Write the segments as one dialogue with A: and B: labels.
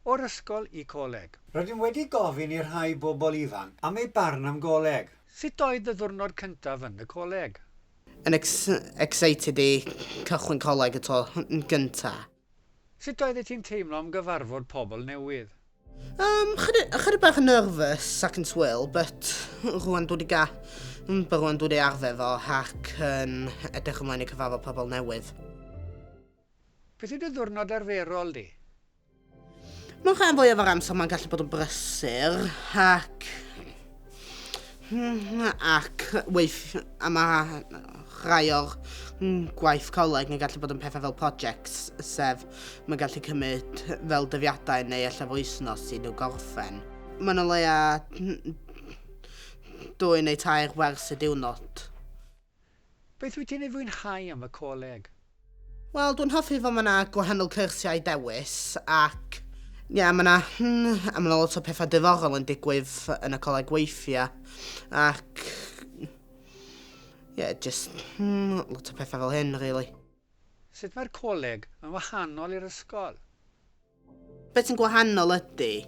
A: O'r ysgol i coleg. Rydym wedi gofyn
B: i rhai bobl ifanc am eu barn am goleg. Sut oedd dy ddiwrnod
A: cyntaf yn y coleg? Yn
C: excited i cychwyn coleg y tro gynta. Sut
A: oeddet ti'n teimlo am gyfarfod pobl newydd? Yym,
C: ychydig bach yn nervous ac yn swil, but rwan dwi 'di ga, but rwan dwi 'di arfer fo ac yn edrych ymlaen i cyfarfod pobl newydd.
A: Beth yw dy ddiwrnod arferol di?
C: Mae'n rhan fwyaf o'r amser mae'n gallu bod yn brysur ac... Hmm, ac weith... a mae rhai o'r hmm, gwaith coleg yn gallu bod yn pethau fel projects, sef mae'n gallu cymryd fel dyddiadau neu efallai wythnos i nhw gorffen. Mae'n o leia hmm, dwy neu tair wers y diwrnod.
A: Beth wyt ti'n ei fwynhau am y coleg? Wel, dwi'n
C: hoffi fod mae yna gwahanol cyrsiau i ddewis ac ie, mae yna hmm, a mae yna lot o pethau diddorol yn digwydd yn y coleg weithiau ac ie, just hmm, lot o pethau fel hyn, really. Sut mae'r
A: coleg yn wahanol i'r ysgol?
C: Beth sy'n gwahanol ydy,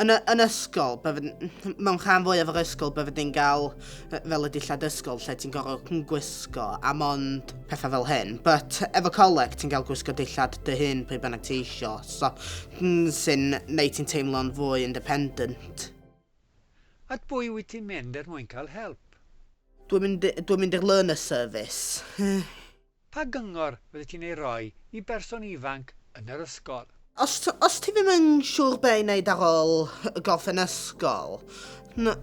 C: yn, y, yn ysgol, bydd, mewn rhan fwyaf o'r ysgol, bydd ni'n cael fel y dillad ysgol lle ti'n gorfod gwisgo a mond pethau fel hyn. But efo coleg, ti'n cael gwisgo dillad dy hun pryd bynnag ti eisiau, so sy'n neud ti'n teimlo'n fwy independent.
A: At bwy wyt ti'n mynd er mwyn cael help? Dwi'n
C: mynd, dwi mynd i'r Learner Service. Pa
A: gyngor fyddet ti'n ei roi i berson ifanc yn yr ysgol? Os, os ti ddim
C: yn siŵr be' i wneud ar ôl gorffen ysgol, n-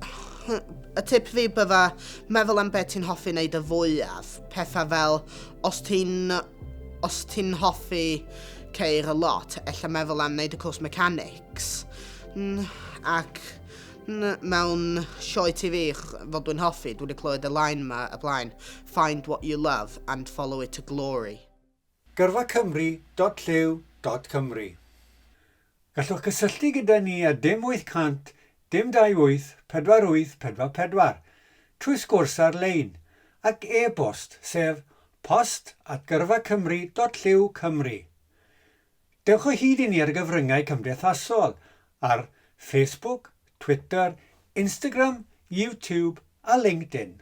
C: y tip fi bydda meddwl am be' ti'n hoffi wneud y fwyaf, petha fel os ti'n, os ti'n hoffi ceir y lot, ella meddwl am wneud y cwrs mechanics, n- ac, n- mewn sioe TV, fod dwi'n hoffi, dwi 'di clywed y line 'ma y blaen, Find what you love and follow it to glory. Gyrfa Cymru dot llyw
B: dot Cymru Gallwch gysylltu gyda ni ar dim 800 dim 28 48 44 trwy sgwrs ar-lein ac e-bost sef post at gyrfacymru dot llyw Cymru. Dewch o hyd i ni ar y gyfryngau cymdeithasol ar Facebook, Twitter, Instagram, YouTube a LinkedIn.